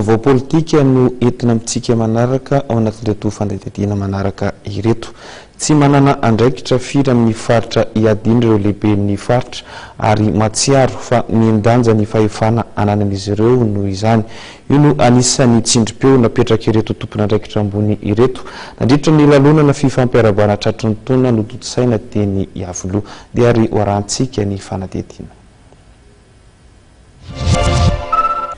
Vaovao politika no entina amintsika manaraka ao anatin'ireto fanadihadiana manaraka ireto. Tsy manana andraikitra firy amin'ny faritra iadiana ireo lehiben'ny faritra ary mahatsiaro fa mihen-danja ny fahefana ananan'izy ireo noho izany. Io no anisan'ny tsindrim-peo napetrak'ireto tompon'andraikitra ambony ireto nandritra ny lalonana fifampiarahabana tratry ny taona notontosaina teny Iavoloha. Dia ary hoarahantsika ny fanadihadiana.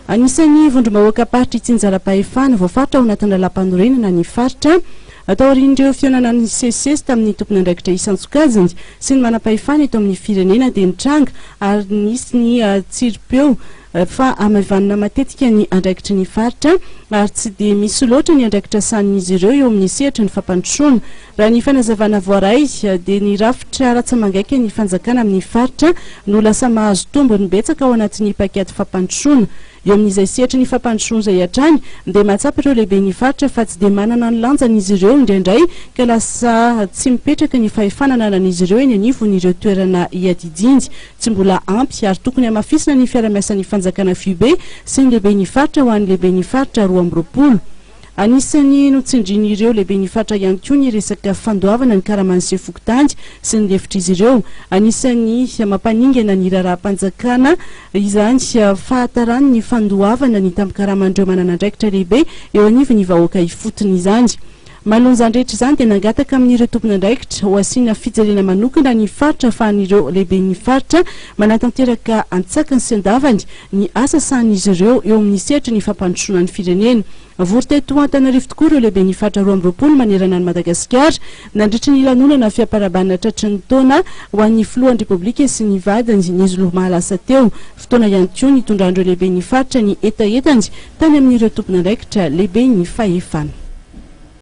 Anisan'ny vondrom-bahoakam-paritry Tsinjalapahefana voafaritra ao anatin'ny lalàmpanorenana ny faritra. Taorian'ireo fihaonana nisesisesy tamin'ny tompon'andraikitra isan-tsokajiny sy ny manampahefana eto amin'ny firenena dia nitranga ary nisy ny tsiripeo fa hamaivanina matetika ny andraikitry ny faritra ary tsy dia misy loatra ny andraikitra sahanin'izy ireo eo amin'ny sehatry ny fampandrosoana Raha ny fanazavana voaray dia ny rafitra ratsamangaikan'ny fanjakana amin'ny faritra no lasa mahazo tombony betsaka ao anatin'ny paikady fampandrosoana. Eo amin'izay sehatry ny fampandrosoana izay hatrany dia mahatsapa ireo lehiben'ny faritra fa tsy dia manana ny lanjany izy ireo indraindray ka lasa tsy mipetraka ny fahefana ananan'izy ireo eny anivon'ireo toerana iadidiany tsy mbola ampy ary tokony hamafisina ny fiaramiasan'ny fanjakana fibe sy ny lehiben'ny faritra ho an'ny lehiben'ny faritra roa amby roapolo Anisan'ny notsindrian'ireo lehiben'ny fatra ihany koa ny resaka fandoavana ny karaman'ny sefo fokontany sy ny lefitr'izy ireo. Anisan'ny mampaningana ny raharaham-panjakana izany fahatarany ny fandoavana ny tambin-karaman'ireo manana andraikitra lehibe eo anivon'ny vahoaka ifotony izany. Manoloana izany rehetra izany dia nangataka amin'ireo tompon'andraikitra ho asiana fijerena manokana ny faritra ahafahan'ireo lehiben'ny faritra manatanteraka antsakany sy andavany ny asa sahanin'izy ireo eo amin'ny sehatry ny fampandrosoana ny firenena. Vory teto Antananarivo tokoa ireo lehiben'ny faritra roa amby roapolo manerana an'i Madagasikara nandritry ny lanonana fiaparabana tratry ny taona ho an'ny filohan'ny Repoblika sy ny vadiny ny zoma lasa teo. Fotoana ihany koa nitondran'ireo lehiben'ny faritra ny hetahetany tany amin'ireo tompon'andraikitra lehiben'ny fahefana.